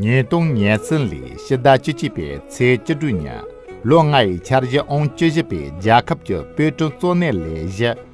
ཉིས་སྟོང་ཉེར་བརྩན་ལོའི་ཕྱི་ཟླ་བཅུ་གཅིག་པའི་ཚེས་བཅུ་དྲུག་ཉིན་ལོ་ལྔ་ཡི་འཆར་གཞི་ཨང་བཅུ་བཞི་པའི་རྒྱལ་ཁབ་ཀྱི་དཔེ་སྐྲུན་གཙོ་གནད་ལས་གཞི་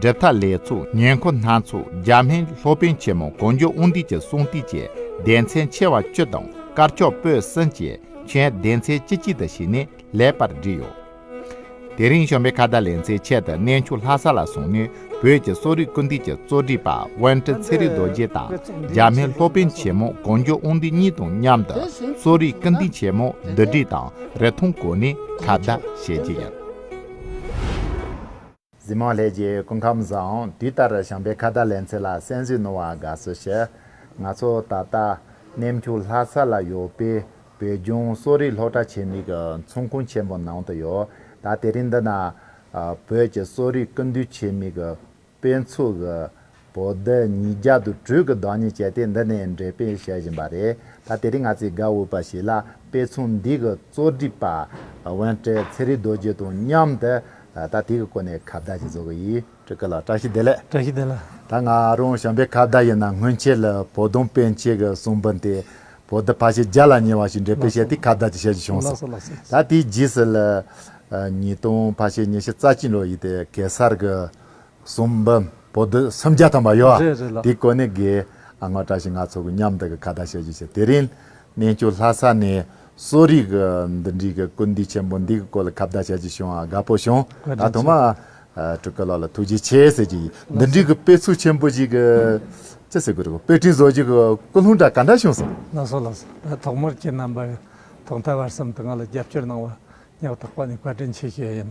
འབྲེལ་ཐག་ལས་ཚུགས་ཉེན་མཁོ་སྣ་ཚོགས་རྒྱ་སྨན་ལྷོ་དཔོན་ཆེན་མོ་གོ་མགྱོགས་དབུ་འདུས་ཀྱི་གསུང་ཏིག་བཅས་སྡེ་ཚན་ཆེ་བ་བཅུ་དང་དཀར་ཕྱོགས་སྤོས་གསེང་བཅས་མཆན་སྡེ་ཚན་བཅུ་གཅིག་དང་བཞི་ནས་ལེགས་པར་བསྒྲིགས་ཡོད། དེ་རིང་གཞོན་པའི་ཁ་བརྡ་ལེན་ཚེ་ཆེད་དུ་གནས་ཆུང་ལྷ་ས་ལ་བཟུང་ནས་བོད་ཀྱི་གསོ་རིག་ཀུན་བཏུས་ཀྱི་གཙོ་སྒྲིག་པ་དབོན་ཁྲི་ཚེ་རིང་རྡོ་རྗེ་དང་རྒྱ་སྨན་ལྷོ་དཔོན་ཆེན་མོ་གོ་མགྱོགས་དབུ་འདུས་གཉིས་དང་མཉམ་དུ་གསོ་རིག་ཀུན་བཏུས་ཆེན་མོ་བསྡུ་སྒྲིག་དང་རི་མཐོང་གོ་ནས་ཁ་བརྡ་བྱས་རྗེས། གཟིམ་མོ་ལྷས་ཀྱི་སྐུ་ཁམས་བཟང། དུས་ལྟར་བྱམས་པའི་ཁ་བརྡ་ལེན་ཚེ་ལ་གསན་བཞུགས་གནང་བ་དགའ་བསུ་ཞུ། ང་ཚོ་ད་ལྟ་གནས་མཆོག་ལྷ་ས་ལ་ཡོད་པའི་བོད་ལྗོངས་གསོ་རིག་སློབ་གྲྭ་ཆེད་དམིགས་ཚོང་ཁང་ཆེན་མོ་ནང་དུ་ཡོད། ད་དེ་རིང་འདི་ན་བོད་ཀྱི་གསོ་རིག་ཀུན་འདུས་ཆེད་དམིགས་དཔེ་ཚོགས་པོ་འདི་ཉིད་རྒྱ་དུ་དྲུག་གི་བདག་ཉིད་སྤྱད་དེ་འདི་ནས་འགྲེལ་སྤེལ་བྱེད་བཞིན་པ་རེད་ད་དེ་རིང་ང་ཚོས་དགའ་འོས་པ་ཞིག་ལ་དཔེ་མཚོན་འདི་གི་གཙོ་སྒྲིག་པ་དབོན་བཀྲས་ཚེ་རིང་རྡོ་རྗེ་དང་མཉམ་དུ་ད་དེ་གི་སྐོར་ནས་ཁ་བརྡ་ཞིག་བཟོ་གི་ཡིན། བཀྲ་ཤིས་བདེ་ལེགས་བཀྲ་ཤིས་བདེ་ལེགས། ད་ང་རང་བྱམས་པའི་ཁ་བརྡ་ཡིན་ན་སྔོན་ཆད་ལ་བོ་ལྡོང་དཔེ་མཆེད་ཀྱི་གསུང་འབུམ་དེ་བོ་ལྡི་ཕ་ཤི་རྒྱ་ལ་ཉེ་བ་ཞིག་འགྲེལ་སྤེལ་བྱས་དེ་ཁ་བརྡ་ཅིག་བྱེད་རྒྱུ་བྱུང་སོང་ད་དེའི་རྗེས་སུ་ལ་ཉིས་སྟོང་ཕ་ཤི་ཉི་ཤུ་རྩ་གཅིག་ལོ་ཡིན་ཏེ་གེ་སར་གྱི་གསུམ་པ། བོད་དུ་སུམ་བརྒྱ་ཐམ་པ་ཡོད། རེད་རེད་ལགས། དེའི་སྐོར་ནས་དགེ་ཨང་བཀྲ་ཤིས་ང་ཚོ་གི་མཉམ་དུ་གི་ཁ་བརྡ་བྱ་རྒྱུ་བྱས། དེ་རིང། གནས་མཆོག་ལྷ་ས་ནས་གསོ་རིག་གི་འདི་འདྲིའི་གི་ཀུན་འདུས་ཆེན་པོ་འདི་གི་སྐོར་ལ་ཁ་བརྡ་བྱ་རྒྱུ་བྱུང་བ་དགའ་པོ་བྱུང། ད་དུང་མ། སྤྲུལ་སྐུ་ལགས་ལ་ཐུགས་རྗེ་ཆེ་ཟེར་གྱི་ཡིན། འདི་འདྲིའི་གི་དཔེ་ཚུགས་ཆེན་པོ་ཞིག་གི། ཅི་ཟེར་དགོས་རེད། དཔེ་སྐྲུན་བཟོ་རྒྱུ་གི་ཀུན་སློང་འདྲ་ག་འདྲ་བྱུང་སོང། ལགས་སོ་ལགས་སོ་ད་ཐོག་མར་ཁྱེད་རྣམ་པ། ཐོག་མཐའ་བར་གསུམ་དུ་ང་ལ་རྒྱབ་སྐྱོར་གནང་བ། སྙག་ཐག་པ་ནས་བཀའ་དྲིན་ཆེ་ཞུ་ཡ་ཡིན།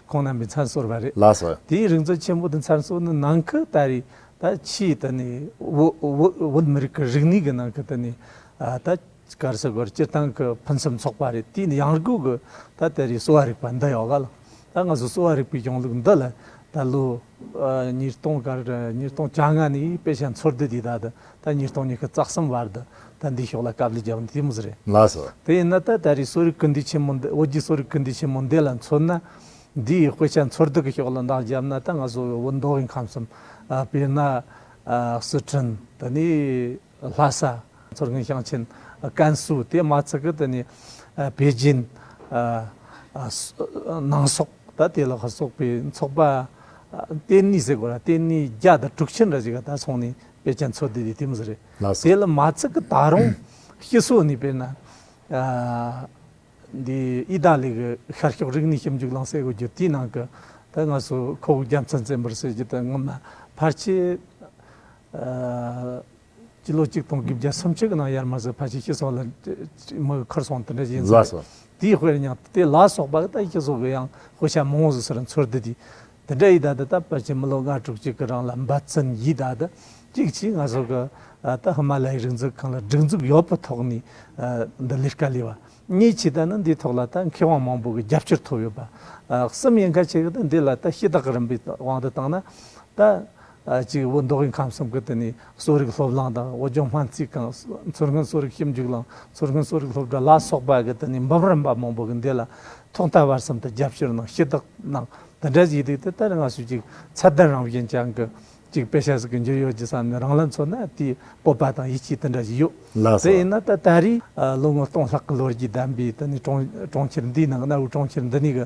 ཁོང་རྣམས་པའི་མཚར་གསོར་བ་རེད། ལགས་སོ། དེའི་རིག་མཛོད་ཆེན་པོ་དེ་མཚར་གསོ་ནི་ནང་ཁུལ་ལྟ་རེ་ད་ཕྱིའི་ད་ནི་བོད་མི་རིགས་ཀྱི་རིག་གནས་ཀྱི་ནང་གི་ད་ནི་ད་གར་ས་གོར་སྤྱིར་བཏང་གི་ཕུན་སུམ་ཚོགས་པ་རེད་དེའི་ནི་ཡང་སྒོས་ཀྱི་ད་དེ་རེ་གསོ་བ་རིག་པ་འདི་ཡོད་ག་ལ། ད་ང་ཚོ་གསོ་བ་རིག་པའི་གཞུང་ལུགས་འདི་ལ་ད་བློ། ཉིས་སྟོང་དགའ་ཉིས་སྟོང་བཅའ་ལྔ་ནི་དཔེ་ཆའི་འཚོལ་སྡུད་དེ་དག་ད་ཉིས་སྟོང་ཉི་ཤུ་རྩ་གསུམ་བར་དུ་ད་འདིའི་ཕྱོགས་ལ་དཀའ་བསླུས་བརྒྱབ་ནི་དེ་མི་སུ་རེད། ལགས་སོ། དེ་ཡིན་ན་ད་ད་རེས་གསོ་རིག་སྐུལ་འདེད་ཆེན་མོ་འདི་བོད་རྒྱའི་གསོ་རིག་སྐུལ་འདེད་ཆེན་མོ་འདི་ལ་མཚོན་ན། འདིའི་དཔེ་ཆ་འཚོལ་སྡུད་ཀྱི་ཕྱོགས་ལ་འདང་བརྒྱབ་ན་ད་ང་བཟོ་བའི་བོད་མདོ་དབུས་ཁམས་གསུམ་དཔེར་ན། སི་ཁྲོན་དང་ནི། ལྷ་ས། མཚོ་སྔོན་ཞིང་ཆེན། ཀན་སུའུ་དེ་མ་ཚི་ཀི་དེ་ནི། པེ་ཅིན། ནང་སོག་ད་དེ་ལ་ཁ་སོག་པའི་ཚོགས་པ། ཏེན་ནི་ཟེ་གོ་ར་ཏེན་ནི་རྒྱ་དང་དྲུག་ཆེན་ར་ཅི་ག་ད་སོང་ནི་པེ་ཅན་ཚོ་དེ་དེ་དེ་མི་ཟེ་རེ། ལྷ་ས། དེ་ལ་མ་ཚི་ཀི་ད་རུང་སྤྱི་སོ་ནི་པེ་ན། འདི་ཨི་ད་ལི་གི་ཤར་ཕྱོགས་རིག་གནས་ཞིབ་འཇུག་ལང་སའི་གོ་རྒྱུ་དེའི་ནང་གི། ད་ང་སོ་ཁོ་བོ་རྒྱ་མཚོ་མཚན་པར་བྱེད་རྒྱུ་དེ་ངོ་མ་ཕར་ཆེ། སྤྱི་ལོ་གཅིག་སྟོང་དགུ་བརྒྱ་སུམ་ཅུ་གི་ནང་ཡར་མར་ཟི་ཕ་ཆིག་ཤི་སོགས་ལ་མི་གི་ཁུར་སོང་དེ་འདྲ་བཞེས་ཚུལ་རེད། དེའི་དཔེར་ཡང་དེ་ལ་སོགས་པ་ད་ཤི་སོགས་ཀྱི་ཡང་དབུ་ཞྭ་མང་བོ་ཟི་ཟིར་འཚོལ་བསྡུ་དེ་དེ་འདྲ་ཡིས་ད་ལྟ་ད་ཕལ་ཆེར་མི་ལོ་ལྔ་དྲུག་ཅིག་གི་རང་ལ་འབའ་ཚུན་ཡིས་ད་ལྟ་ཅིག་ཅིག་ང་སོགས་ཀྱི་ད་ཧི་མ་ལ་ཡའི་རིག་འཛུགས་ཁང་ལ་སྒྲིག་འཛུགས་ཡོད་པའི་ཐོག་ནས་འདི་ལས་དཀའ་ལས་བ་གཉིས་ཆེ་ད་ནི་འདིའི་ཐོག་ལ་ད་མཁས་དབང་མང་བོ་གི་རྒྱབ་སྐྱོར་ཐོབ་ཡོད་པ་གསུམ་ཡིན་ཁ་ཆེ་གི་ད་འདི་ལ་ད་ཤི་དག་གི་རིམ་པའི་དབང་དུ་བཏང་ན་ད་གཅིག་བོད་མདོ་དབུས་ཁམས་གསུམ་གྱི་དེ་ནས་གསོ་རིག་སློབ་གླིང་དང་བོད་ལྗོངས་སྨན་རྩིས་ཁང་མཚོ་སྔོན་གསོ་རིག་ཞིབ་འཇུག་ལམ་མཚོ་སྔོན་གསོ་རིག་སློབ་གྲྭ་ལ་སོགས་པ་གི་དེ་ནས་འབུམ་རམས་པ་མང་པོ་གི་འདི་ལ་ཐོག་མཐའ་བར་གསུམ་དུ་རྒྱབ་སྐྱོར་གནང་ཞུས་དག་གནང་འདི་འདྲའི་ཡི་གེ་དེ་ལྟར་སྔ་སྲོལ་གྱི་ཚད་ལྡན་རང་བཞིན་ཅན་གྱི་གཅིག་དཔེ་ཆ་ཟིག་གི་འཇུག་ཡོད་ཀྱི་བསམ་ནས་རང་ལ་མཚོན་ན་དེའི་སྤོབས་པ་དང་ཡིད་ཆེས་དེ་འདྲ་ཞིག་ཡོད། ལགས་དེ་སོ། ཡིན་ན་ད་ལྟ་རེས་ལོ་ངོ་སྟོང་ལྷག་གི་ལོ་རྒྱུས་ལྡན་པའི་དེ་ནས་གྲོང་ཁྱེར་འདིའི་ནང་གནའ་བོའི་གྲོང་ཁྱེར་འདི་ནས་གི་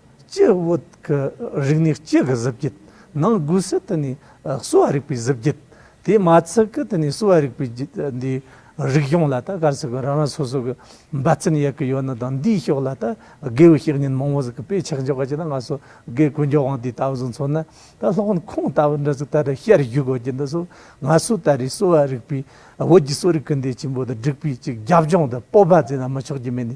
སྤྱི་བོད་ཀྱི་རིག་གནས་སྤྱི་གི་གཟི་བརྒྱད། ནང་སྒོས་སུ་དེ་ནི་གསོ་བ་རིག་པའི་གཟི་བརྒྱད། དེས་མ་ཚད་ཀྱི་དེ་ནི་གསོ་བ་རིག་པའི་འདི་རིག་གཞུང་ལ་ད་གར་སོགས་ཀྱི་རང་རང་སོ་སོ་གྱི་འབའ་རྩིན་ཡལ་གྱི་ཡོད་ནི་དང་འདིའི་ཕྱོགས་ལ་ད་དགེ་བའི་བཤེས་གཉེན་མང་བོ་ཟིག་གི་དཔེ་ཆགས་འཇོག་གྱི་ན་ང་སོ་གའི་ཀུན་སྦྱོར་དབང་དེ་ལྟ་བུ་ཟིག་མཚོན་ན་ད་ལྷག་ན་ཁུངས་ལྟ་བུ་འདྲ་ཟིག་ད་རེ་ཤར་བཞུགས་དགོས་ཀྱི་འདི་སོ་ང་སོ་ད་རེས་གསོ་བ་རིག་པའི་བོད་ཀྱི་གསོ་རིག་གི་འདི་ཆེན་པོ་དང་སྒྲིག་པའི་ཅིག་རྒྱབ་ལྗོངས་དུ་སྤོབས་པ་མཛད་ན་མི་ཆོག་རྒྱུ་མེད་ནི་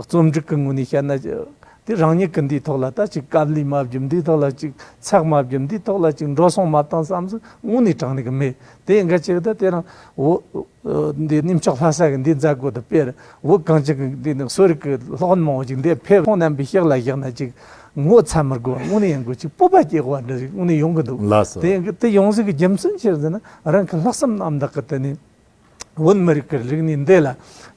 རྩོམ་སྒྲིག་གི་ངོས་ནས་བཤད་ན། དེ་རང་ཉིད་ཀྱི་འདིའི་ཐོག་ལ་ལྟ་ཅིག་སྐབས་ལུས་མ་བརྒྱུད་འདིའི་ཐོག་ལ་ཅིག་ཚགས་མ་བརྒྱུད་འདིའི་ཐོག་ལ་ཅིག་འགྲོ་སོང་མ་བཏང་བསམ་གཟུགས་དངོས་ནས་དྲངས་ནས་ཀྱི་མེད་དེ་འགའ་ཅིག་དང་དེ་རང་འདི་གནས་མཆོག་ལྷ་ས་ཀྱི་འདིའི་མཛད་སྒོ་དང་དཔེར་འོས་གང་ཅིག་གི་འདི་ནི་གསོ་རིག་གི་ལྷག་ཡོན་མང་བོ་ཅིག་འདི་ཕེབས་ཐོག་རྣམ་པའི་གཤེགས་ལ་བཞག་ན་ཅིག་ངོ་ཚ་མི་དགོས་པ་དངོས་ནས་ཡིན་དགོས་ཅིག་སྤོབས་པ་སྐྱེ་དགོས་པ་འདི་རིགས་དངོས་ནས་ཡོང་གི་འདུག་དེ་ཡོངས་གཟིགས་ཀྱི་རྒྱུ་མཚན་ཅིར་ཟེར་ན་རང་གི་ལྷག་བསམ་རྣམ་དག་གི་དེ་ནས། བོད་མི་རིགས་ཀྱི་རིག་གནས་འདི་ལ་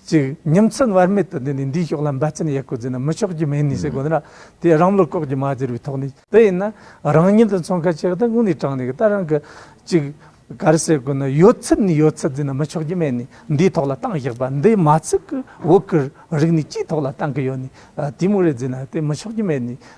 ཅིག་ཉིན་མཚན་བར་མེད་དུ་འདི་ནས་འདིའི་ཕྱོགས་ལ་འབད་བརྩོན་ཡག་པོ་བྱས་ན་མི་ཆོག་རྒྱུ་མེད་ནི་ཞེས་དགོངས་ན་དེ་རང་བློ་ལྐོག་གྱུར་མ་གྱུར་པའི་ཐོག་ནས་དེ་ཡིན་ན་རང་ཉིད་དུ་ཚོང་ཁ་ཆེ་གཏོང་ངོས་ནས་དྲངས་ནས་ད་རང་གི་ཅིག་གར་སའི་སྒོ་ན་ཡོད་ཚད་ནས་ཡོད་ཚད་བརྫིས་ན་མི་ཆོག་རྒྱུ་མེད་ནི་འདིའི་ཐོག་ལ་ཏང་བཞག་པ་འདི་མ་ཚུགས་ཀྱི་བོད་ཀྱི་རིག་གནས་སྤྱིའི་ཐོག་ལ་ཏང་གི་ཡོད་ནི་དེའི་མུག་རེ་བརྫིས་ན་དེ་མི་ཆོག་རྒྱུ་མེད་ནི།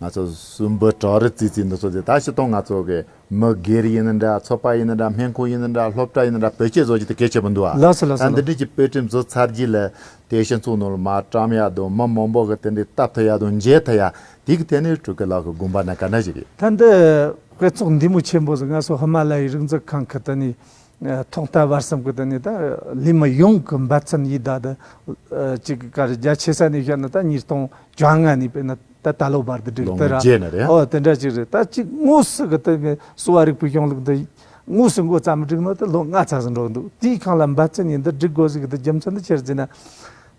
ང་ཚོ་སུ་འབུ་བྲོག་རི་ཙི་ཙི་འདི་ཚོ་དེ་ད་ཕྱི་སྟོང་ང་ཚོ་གི་མི་སྒེར་ཡིན་ན་འདྲ་ཚོ་པ་ཡིན་ན་འདྲ་སྨན་ཁུང་ཡིན་ན་འདྲ་སློབ་གྲྭ་ཡིན་ན་འདྲ་བོད་སྐད་བཟོ་རྒྱུ་དེ་གལ་ཆེ་པོ་འདུག་ལགས་སོ་ལགས་ད་སོ་འདི་ལགས་འདྲིས་ཀྱི་དཔེ་ཁྲིམས་བཟོ་ཚར་རྗེས་ལ་དེ་ཤེས་ཚུགས་ནོར་མ་བཀྲམ་ཡག་དང་མི་མང་པོ་གི་དེ་འདྲའི་སྟབས་ཐུག་ཡག་དང་མཇལ་ཐུག་ཡག་དེ་གི་ཐད་ནས་ཕྲུ་གུ་ལགས་གི་དགོངས་པ་ན་ག་འདྲ་ཞིག་ཡོད། ད་འདི་དཔེ་ཚོགས་འདི་མོ་ཆེན་པོ་ཟིག་ང་སོ་ཧི་མ་ལ་ཡའི་རིག་འཛུགས་ཁང་གི་དེ་ནས་ཐོག་མཐའ་བར་གསུམ་གྱི་ནི་ད་ལི་མི་ཡོངས་ཀྱི་འབད་བརྩོན་ཡིད་བདག་དང་གཅིག་གི་ཁར་རྒྱ་ཆེ་ས་ནས་བཤད་ན་ད་ཉིས་སྟོང་བཅོ་ལྔ་ནས་བལྟས་ན་ད་ད་ལོ་བར་དུ་བསྒྲིགས་ལོ་ངོ་བརྒྱད་ནས་རེད་ཨ། འོ་དེ་འདྲ་ཅིག་རེད་ད་གཅིག་དངོས་སུ་གི་ད་གསོ་བ་རིག་པའི་གཞུང་ལུགས་འདི་དངོས་སུ་མགོ་བརྩམས་བསྒྲིགས་ན་ད་ལོ་ལྔ་ཚར་ཟིན་འགྲོ་འདུག་དེའི་གང་ལ་འབད་བརྩོན་ཡིན་འདི་བསྒྲིགས་དགོས་ཟིག་གི་ད་རྒྱུ་མཚན་འདི་ཅིར་བརྩིས་ན།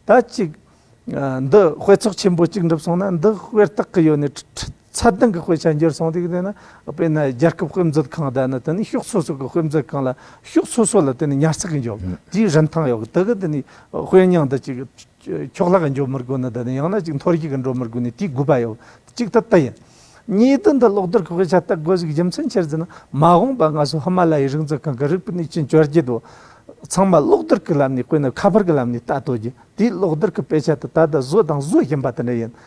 ད་གཅིག་འདི་དཔེ་ཚོགས་ཆེན་པོ་གཅིག་འགྲུབ་སོང་ན་འདི་དཔེར་བརྟག་གི་ཡོད་ནི་ཁྲི་ཚ་གདང་གི་དཔེ་ཆ་འགྱུར་སོང་དུས་དེ་ནི་དཔེར་ན་རྒྱལ་ཁབ་དཔེ་མཛོད་ཁང་དང་ནི་དེ་ནི་ཕྱོགས་སོ་སོ་གི་དཔེ་མཛོད་ཁང་ལ་ཕྱོགས་སོ་སོ་ལ་དེ་ནི་ཉར་ཚགས་འཇོག་རྒྱུའི་རིན་ཐང་ཡོད་དེ་གི་དེ་ནི་དཔེ་རྙིང་འདི་གཅིག་ཕྱོགས་ལྷག་འཇོག་མི་དགོས་ནི་དེ་ནི་ཡང་ན་གཅིག་མཐོ་རྒྱུགས་ཀྱིས་འགྲོ་མི་དགོས་ནི་དེའི་དགོས་པ་ཡོད་གཅིག་དེ་དེ་ཡིན། གཉིས་དོན་དུ་གློག་རྡུལ་གྱི་དཔེ་ཆ་ལྟ་དགོས་གཞིའི་རྒྱུ་མཚན་ཆེར་དེ་ནི་མ་འོངས་པར་སྔ་སོར་ཧི་མ་ལ་ཡའི་རིག་མཛོད་ཁང་གི་རིག་པའི་གནས་ཆེན་བཅོ་བརྒྱད་དུ་ཚང་མ་གློག་རྡུལ་གྱི་ལམ་ནས་བཀོད་ནས་ཁ་པར་གྱི་ལམ་ནས་ལྟ་དོ་རྒྱུ་དེའི་གློག་རྡུལ་གྱི་དཔེ་ཆ་དེ་ད་ལྟ་བཟོས་དང་བཟོ་བཞིན་པ་དེ་འདྲ་ཡིན་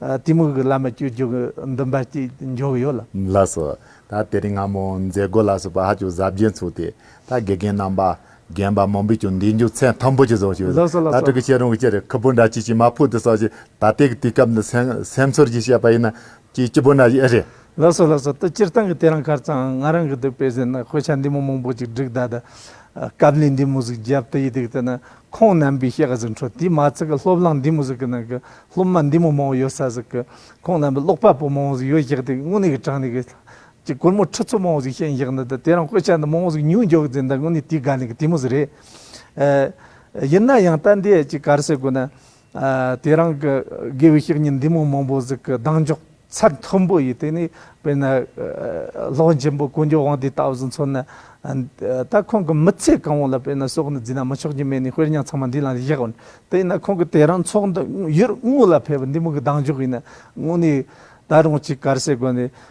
གཏི་མུག་གི་བླ་མ་སྐྱོ་སྦྱོང་གི་འདུན་པ་ཅིག་འཇོག་ཡོད་ལ། ལ་སོགས། ད་དེ་རིང་སྔ་མོ་མཛད་སྒོ་ལ་སོགས་པ་ཧ་ཅུང་གཟབ་རྒྱན་ཚུགས་ཏེ། ད་དགེ་རྒན་རྣམ་པ། རྒན་པ་མང་པོས་ཀྱང་འདི་མཇུག་མཚན་མཐོན་པོ་ཅིག་བཟོ་ཞུ། ལ་སོགས་ལ་ད་སོགས། ཕྲུ་གུ་ཤེས་རུང་གི་ཕྱིར་ཁུ་བུ་འདྲ་ཅི་ཞིག་མ་ཕུལ་དུ་སོགས་ཞེས་ད་ལྟའི་གི་དུས་སྐབས་འདི་སེམས་ཚོར་གྱིས་བཤད་པ་ཡིན་ན། ཅི་སྐྱིད་པོ་འདྲ་ཞིག་ཨེ་རེད། ལ་སོགས་ལ་སོགས་ད་སྤྱིར་བཏང་གི་དེ་རང་གར་ཙང་ང་རང་གི་འདི་དཔེ་ཟིན་ན་དཔེ་ཆ་འདི་མོ་མང་པོ་ཅིག་བསྒྲིགས་ད་ད། སྐབས་ལས་འདི་མོ་ཟིག་རྒྱབ་དུ་ཡི་དུས་དེ་ན་ཁོང་རྣམ་པའི་གཤེགས་གཟིགས་འཕྲོ་དེའི་མ་ཚིག་གི་སློབ་གླང་འདི་མོ་ཟིག་གི་ནང་གི་སློབ་མ་འདི་མོ་མང་བོ་ཡོད་ས་ཟིག་གི་ཁོང་རྣམ་པའི་ཀློག་པ་པོ་མང་བོ་ཟིག་ཡོད་བཞག་དེ་གི་དངོས་གནས་གི་དྲང་ནས་གི་ཀྱི་གོར་མོ་ཁྲི་ཚོ་མང་བོ་ཟིག་བཤད་བཞག་ནི་དེ་རང་སྐོད་ཆ་འདི་མང་བོ་ཟིག་ཉུང་འཇོག་ཟིན་ད་དངོས་གནས་དེའི་དགའ་ལས་གི་དེ་མོ་ཟིག་རེད། ཡིན་ན་ཡང་ལྟ་འདས་ཀྱི་གར་སེ་དགོས་ན། དེ་རང་གི་དགེ་བའི་བཤེས་གཉེན་འདི་མོ་མང་པོ་ཟིག་གི་གདངས་འཇོག་ཚད་མཐོན་པོ་ཡིས་དེ་ནས་དཔེར་ན། ལྷོ་འཇིམ་པོ་དཀོན་མཆོག་དབང་འདིས་ལྟ་བུ་ཟིག་མཚོན་ན། ད་ཁོང་གི་མི་ཚེ་གང་བོ་ལ་དཔེར་ན་སྲོག་ནི་རྫི་ན་མི་ཆོག་གྱི་མེ་ནི་དཔེར་ཉག་ཚང་མ་འདི་ལ་བཞག་བ་ནི། དེས་ན་ཁོང་གི་དེ་རང་ཚོགས་འདུ་ཡུལ་དངོས་ལ་ཕེབས་པ་འདི་མོ་གི་གདངས་འཇོག་ཡིན་ན་དངོས་ནས་ད་རུང་ཅིག་གར་སའི་སྒོ་ནས།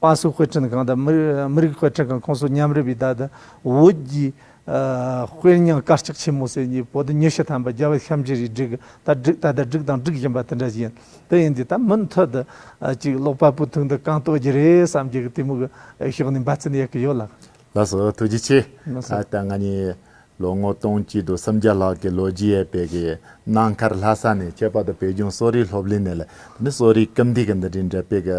པ་སུ་དཔེ་སྐྲུན་ཁང་དང་མི་རིགས་དཔེ་སྐྲུན་ཁང་ཁོངས་སུ་མཉམ་རུབ་པའི་བརྡ་དང་འོད་ཀྱི་དཔེར་ཉང་དཀར་ལྕགས་ཆེན་མོ་ཟེར་གཉིས་པོ་དང་ཉི་ཤུ་ཐམ་པ་རྒྱལ་བ་ཤམ་བྱི་རིའི་སྒྲིག་ད་སྒྲིག་ད་ལྟ་སྒྲིག་དང་སྒྲིག་བཞིན་པ་དེ་འདྲ་བཞིན་དུ་ཡིན་དུས་ད་མུ་མཐུད་དུ་ཅིག་ཀློག་པ་པོའི་ཐུགས་འདུན་གང་རྟོགས་རྒྱུ་རེད་བསམ་རྒྱུ་གཏི་མུག་ཞོགས་ནས་འབའ་ཚུན་ཡལ་གི་ཡོད་ལགས། ལགས་སོ་ཐུགས་རྗེ་ཆེ། ད་ལྟ་ང་ནི་ལོ་ངོ་སྟོང་གཅིག་དུ་སུམ་བརྒྱ་ལྷག་གི་ལོ་རྒྱུས་ཡས་དཔེ་གི་གནའ་མཁར་ལྷ་ས་ནས་ཁྱད་པར་དུ་བོད་ལྗོངས་གསོ་རིག་སློབ་གླིང་ནས་ལ་ནི་གསོ་རིག་སྐམ་དུས་ཀྱི་འདི་འདྲའི་འདྲ་དཔེ་གི་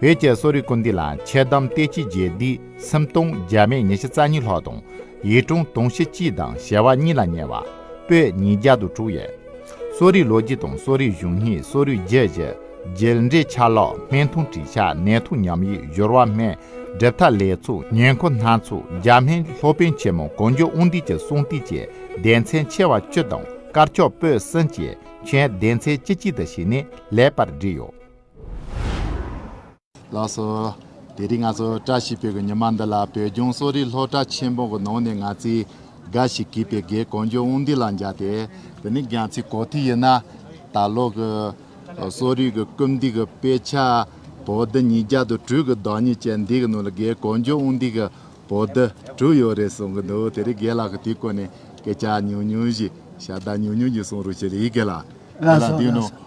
བོད་ཀྱི་གསོ་རིག་དགོན་སྡེ་ལ་འཆལ་གཏམ་སྟེ་སྤྱི་རྒྱལ་སྡེ་སུམ་སྟོང་བརྒྱ་མེད་ཉི་ཤུ་རྩ་གཉིས་ལྷག་དང་ཡིད་དྲུང་དུང་ཕྱེད་གཅིག་དང་ཞལ་བ་གཉིས་ལ་ཉེ་བ། པོད་ཉིས་བརྒྱ་དང་དྲུག་ཡས། གསོ་རིག་ལོ་རྒྱུས་དང་གསོ་རིག་གཞུང་ཡིག་གསོ་རིག་རྒྱལ་བཞི། རྒྱལ་འབྲེལ་ཆ་ལག་སྨན་ཐུང་བྲིས་ཆ་ནད་ཐུང་ཉམས་ཡིག་སྦྱོར་བ་སྨན་སྒྲུབ་ཐ་ལས་ཚུགས་ཉེན་མཁོ་སྣ་ཚོགས་རྒྱ་སྨན་སློབ་དཔོན་ཆེན་མོ་གོ་འཇོ་དབུ་འདུས་ཀྱི་གསུང་ཏིག་བཅས་ལྡན་མཚན་ཆེ་བ་བཅུ་དང་དཀར་ཕྱོགས་པོད་གསུམ་བཅས་མཆན་ལྡན་མཚན་བཅུ་གཅིག་དང་བཞི་ནི་ལེགས་པར་བསྒྲིགས་ཡོད། ལགས་སོ། དེ་རིང་ང་ཚོ་བཀྲ་ཤིས་བོད་ཀྱི་ཉི་མ་འདི་ལ་བོད་ལྗོངས་གསོ་རིག་སློབ་གྲྭ་ཆེན་མོ་གི་ནང་ནས་ང་ཚོས་འགའ་ཞིག་གིས་པའི་སྒེར་གང་མགྱོགས་དབུ་འདེད་ལ་འཇགས་ཏེ། འདི་ནི་རྒྱལ་མཚན་གོ་ཐོས་ཡིན་ན། ད་ལོ་གི་གསོ་རིག་གི་རྐུབ་འདེགས་ཀྱི་དཔེ་ཆ་བོད་ལྡི་ཉིས་བརྒྱ་དང་དྲུག་གི་བདག་ཉིད་ཅན་འདི་གི་ནང་ལ་སྒེར་གང་མགྱོགས་དབུ་འདེད་ཀྱི་བོད་ལྡི་དྲུག་ཡོད་རེད་གསུང་གི་འདུག་དེ་རིང་སྒེར་ལགས་ཀྱིས་དེའི་སྐོར་ནས་སྐད་ཆ་ཉུང་ཉུང་ཞིག་ཞབས་བརྡ་ཉུང་ཉུང་ཞིག་གསུང་རོགས་ཞུ་རིགས་གལ། ལགས་སོ།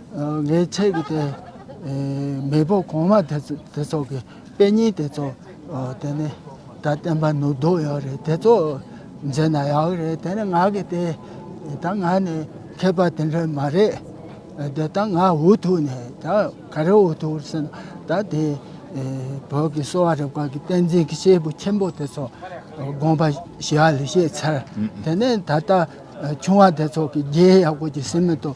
ངའི་ཆེད་ཀྱི་དེ་མེས་པོ་གོང་མ་དེ་ཚོགས་ཀྱི་དཔེ་རྙིང་དེ་ཚོ་དེ་ནས་ད་བསྟན་པ་ནུབ་ལྡོག་ཡོད་རེད་དེ་ཚོ་མཛད་ན་ཡག་རེད་དེ་ནས་ང་གི་དེ་ད་ང་ནི་མཁས་པ་དེ་འདྲ་མ་རེད་དེ་ད་ང་འུ་ཐུག་ནས་ད་ག་རེ་འུ་ཐུག་ཟེར་ན་ད་དེ་བོད་ཀྱི་གསོ་བ་རིག་པ་ཀྱི་བསྟན་འཛིན་གྱི་སྐྱེས་བུ་ཆེན་པོ་དེ་ཚོ་དགོངས་པ་ཞི་བ་ལས་བཤད་ཚར་དེ་ནས་ད་ལྟ་ཆུང་བ་དེ་ཚོགས་ཀྱི་རྒྱའི་ཡག་པོ་ཀྱི་སེམས་མེད་དོ་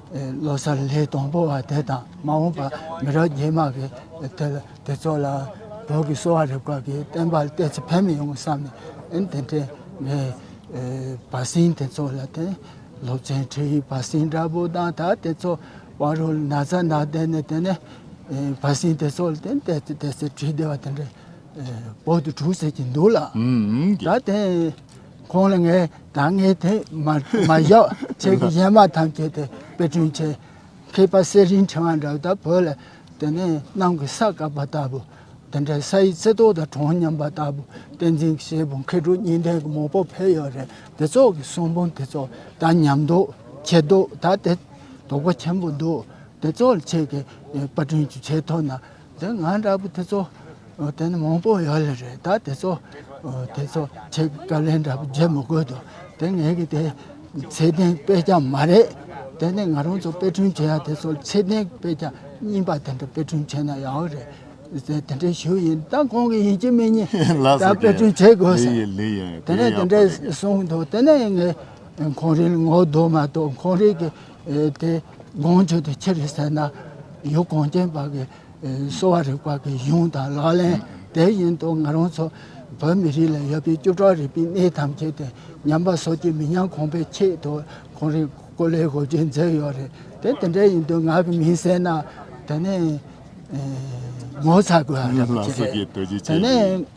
ལོ་གསར་ལྷའི་སྡོང་པོ་བ་དེ་དང་མ་འོངས་པར་མི་རབས་རྗེས་མ་གི་དེ་ལ་དེ་ཚོ་ལ་བོད་ཀྱི་གསོ་བ་རིག་པ་གི་བསྟན་པ་གཏད་ཚེ་ཕན་མི་ཡོང་བསམ་ནས་ཨན་དེ་འདྲའི་ངའི་བ་སྲིན་དེ་ཚོ་ལ་དེ་སློབ་ཚན་ཁྲིད་ཡིག་བ་སྲིན་འདྲ་པོ་དང་ད་དེ་ཚོ་བ་རོ་ན་ཚ་ན་བསྡད་ནས་དེ་ནས་བ་སྲིན་དེ་ཚོ་ལ་དེ་གཏད་ཚེ་ཁྲིད་བདེ་བ་དེ་འདྲའི་བོད་དུ་གྲུག་ཟེར་གྱི་འདུག་ལགས། ད་དེ། ཁོང་ལ་ངས་ད་སྔའི་དེ་མ་བཞག་ཁྱེད་ཀྱི་གཞན་མ་ཐམས་ཅད་དེ་དཔེ་སྐྲུན་བྱེད་མཁས་པ་གསེར་རིན་ཕྲེང་བ་འདྲ་དག་བོད་ལ་དེ་ནས་གནམ་གྱི་ས་བཀབ་པ་ལྟ་བུ་དེ་འདྲའི་ས་ཡི་རྩི་ཏོག་དང་གྲོང་མཉམ་པ་ལྟ་བུ་བསྟན་འཛིན་གྱི་བྱེད་པོ་མཁས་གྲུབ་གཉིས་ལྡན་གྱི་མོ་པོ་ཕལ་ཡོད་རེད་དེ་ཚོ་གི་གསུང་འབུམ་དེ་ཚོ་ད་ཉམས་མདོག་ཆེ་མདོག་ད་དེ་དོག་པ་ཆེན་པོ་འདུག་དེ་ཚོ་ལ་ཁྱེད་ཀྱིས་དཔེ་སྐྲུན་བྱེད་ཐུབ་ན། དེ་ང་འདྲ་པོ་དེ་ཚོ་དེ་ནི་མང་པོ་ཡོད་ལེ་རེད་ད་དེ་ཚོ་དེ་ཚོ་ཆེད་བཀའ་ལན་འདྲ་པོ་བརྗེ་མི་དགོས་དོ་དེ་ངེད་ཀྱི་དེ་ཚད་ལྡན་དཔེ་ཆ་མ་རེད་དེ་ནི་ང་རང་ཚོ་དཔེ་སྐྲུན་བྱེད་ཡ་དེ་ཚོ་ཚད་ལྡན་དཔེ་ཆ་རྙིང་པ་དེ་འདྲ་དཔེ་སྐྲུན་བྱེད་ན་ཡག་རེད་དེ་དེ་འདྲའི་ཞུ་ཡིན་ད་གང་གི་ཡིན་གྱི་མི་ཉན་ད་དཔེ་སྐྲུན་བྱེད་དགོས་ས་དེ་ནས་དེ་འདྲའི་གསུངས་འདུག་དེ་ནས་ངས་གངས་རིའི་ངོ་གདོང་མ་གཏོགས་གངས་རིའི་གི་དེ་དགོངས་བརྗོད་དུ་ཁྱེར་ཟེར་ན་ཡུལ་གངས་ཅན་པ་གི་གསོ་བ་རིག་པ་གི་གཞུང་དང་ལག་ལེན་དེ་བཞིན་དུ་ང་རང་ཚོ་བོད་མི་རིགས་ལ་ཡོད་པའི་བཅུ་ཕྲག་རིག་པའི་གནས་ཐམས་ཅད་དེ་ཉམས་པ་སོ་སྐྱེ་མི་ཉམས་གོང་འཕེལ་ཆེད་དུ་གོང་རིམ་ཀོ་ལེ་གོ་རྒྱུའི་མཛད་ཡོད་རེད་དེ་དེ་འདྲ་ཡིན་དུས་ང་གི་མིང་གསལ་ན་དེ་ནས་ངོ་ཚ་དགོས་རེད། ཉམས་པ་སོ་སྐྱེ་རྡོ་རྗེ་ཅན་རེད།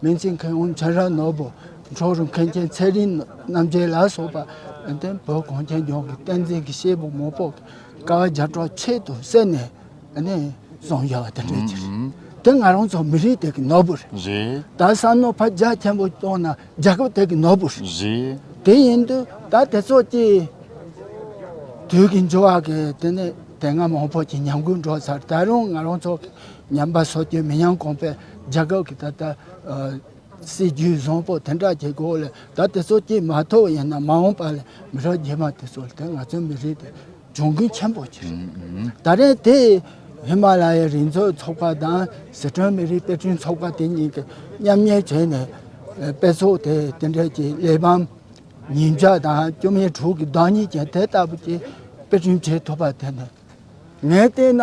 སྨན་རྩིས་མཁན་ཝུན་ཆན་ར་ནོར་བུ། འཁྱོག་རུ་མཁན་ཆེན་ཚེ་རིང་རྣམ་རྒྱལ་ལ་སོགས་པ། བོད་གངས་ཅན་ལྗོངས་ཀྱི་བསྟན་འཛིན་གྱི་གཤེད་པོ་མོ་པོ་ཀ་བ་བརྒྱ་ཕྲག་ཆེད་དུ་བསད་ནས་བཟུང་ཡོད་པ་དེ་འདྲ་ཅིག་རེད། དེ་ང་རང་ཚོ་མི་རིགས་དེ་གི་ནོར་བུ་རེད། ད་བསམ་ན་ཕ་རྒྱ་ཆེན་པོ་སྐྱོང་ན་རྒྱལ་ཁབ་དེ་གི་ནོར་བུ་རེད། དེ་ཡིན་དུས་ད་དེ་ཚོ་ཀྱི་དུས་ཀྱི་འགྱུར་བ་གི་དེ་སྔ་མང་པོ་ཀྱི་ཉམས་རྒུད་འགྲོ་ཚར་ད་རུང་ང་རང་ཚོ་ཉམས་པ་སོགས་ཀྱིས་མི་ཉམས་གོང་འཕེལ་རྒྱལ་ཁབ་ཀྱི་ད་ལྟ་སྲིད་བྱུས་བཟང་པོ་དེ་འདྲ་གྱི་སྒོ་ལས་ད་དེ་ཚོ་སྐྱེས་མ་ཐུབ་ཡིན་ན་མ་འོངས་པ་ལས་མི་རབས་རྗེས་མ་དེ་ཚོ་ལ་དེ་ང་ཚོའི་མི་རིགས་དེ་གྱོང་གུན་ཆེན་པོ་ཆེ་རེད། ད་རེས་དེ་ཧི་མ་ལ་ཡའི་རི་འཛོགས་ཚོགས་པ་དང་ཟི་ཁྲོན་མི་རིགས་དཔེ་སྐྲུན་ཚོགས་པ་དེ་གཉིས་ཀྱིས་མཉམ་གཉེར་བྱས་ནས་དཔེ་ཚོགས་དེ་དེ་འདྲ་གྱི་གླེགས་བམ་ཉིས་བརྒྱ་དང་བཅུ་མེད་དྲུག་གི་བདག་ཉིད་ཅན་དེ་ལྟ་བུ་ཅིག་དཔེ་སྐྲུན་བྱེད་ཐུབ་པ་དེ་ནི་ངས་བལྟས་ན།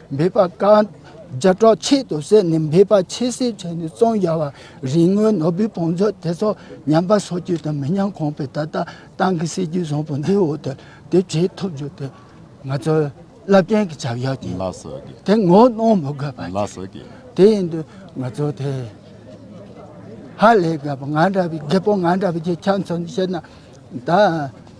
འབད་པ་ཀ། རྒྱལ་གྲོགས་ཆེད་དུ་བསད་ནས་འབད་པ་ཆེ་བསད་བྱས་ནས་བཙོང་རྒྱག་བ་རིག་དངོས་ནོར་བུའི་བང་མཛོད་དེ་ཚོ་ཉམས་པ་སོགས་རྒྱུ་དང་མི་ཉམས་གོང་འཕེལ་ད་ལྟ་ཏང་གི་སྲིད་ཇུས་བཟང་པོ་འདིའི་འོག་ཏུ་དེ་བྱེད་ཐུབ་རྒྱུ་དེ་ང་ཚོའི་རླབས་ཆེན་གྱི་བྱ་བཞག་ཅིག་ཡིན་དེ་ངོ་གནོང་མི་དགོས་པ་ཅིག་དེ་ཡིན་དུས་ང་ཚོ་དེ་ཧ་ལས་དགའ་པོ་ང་འདྲ་བའི་རྒད་པོ་ང་འདྲ་བའི་ཁྱེད་ཚོ་ནི་བཤད་ན་ད།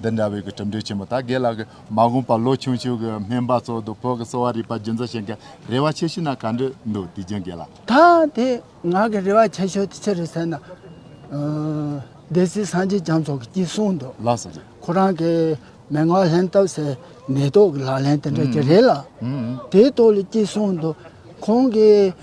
འདི་འདྲ་བའི་གི་གྲུབ་འབྲས་ཆེན་པོ་ད་གེ་ལ་གི་མ་དགོངས་པ་ལོ་ཆུང་ཆུང་གི་སྨན་པ་ཚོ་འདུག་བོད་ཀྱི་གསོ་བ་རིག་པ་རྒྱུན་འཛིན་བྱེད་མཁན་རེ་བ་ཆེ་ཤོས་ན་ག་འདྲི་འདུག་དུས་རྒྱུན་གེ་ལ། ད་དེ་ང་གི་རེ་བ་ཆེ་ཤོས་དེ་ཆི་རེད་ཟེར་ན། སྡེ་སྲིད་སངས་རྒྱས་བྱམས་སོགས་ཀྱི་ཀྱིས་གསུངས་འདུག། ལགས་སོ་ཅི། ཁོ་རང་གི་མན་ངག་ལེན་སྟབས་སེ་མེ་ཏོག་གི་ལག་ལེན་དེ་འདྲ་ཅི་རེད་ལ། དེའི་ཐོག་ལ་ཀྱིས་གསུངས་འདུག་ཁོང་གི།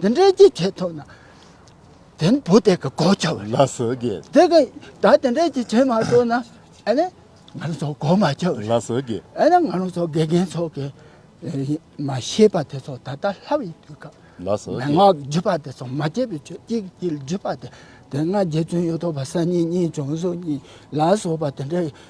འདི་འདྲའི་ཀྱི་ཆེད་ཐོག་ན། དེ་ནི་བུ་དེ་གི་གོ་ཆ་བ། ལ་སོ་གི། དེ་གི་ད་དེ་འདྲའི་ཀྱི་ཆེད་མ་ཐོག་ན། ཨ་ནི་ང་རང་ཚོ་གོ་མ་ཆོག་བས། ལ་སོ་གི། ཨ་ནི་ང་རང་ཚོ་དགེ་རྒན་ཚོ་གི། མ་ཤེས་པ་དེ་ཚོ་ད་ལྟ་ལྷ་བའི་དུས་སྐབས། ལ་སོ་གི། མན་ངག་བརྒྱུད་པ་དེ་ཚོ་མ་སྐྱེས་པའི་ཆོས་སྐྱེས་ཀྱི་དཀྱིལ་བརྒྱུད་པ་དེ། དེ་སྔ་རྗེ་བཙུན་གཡུ་ཐོག་པ་ས་གཉིས་གཉིས་བྱུང་སོ་གཉིས་ལ་སོགས་པ་དེ་འདྲའི།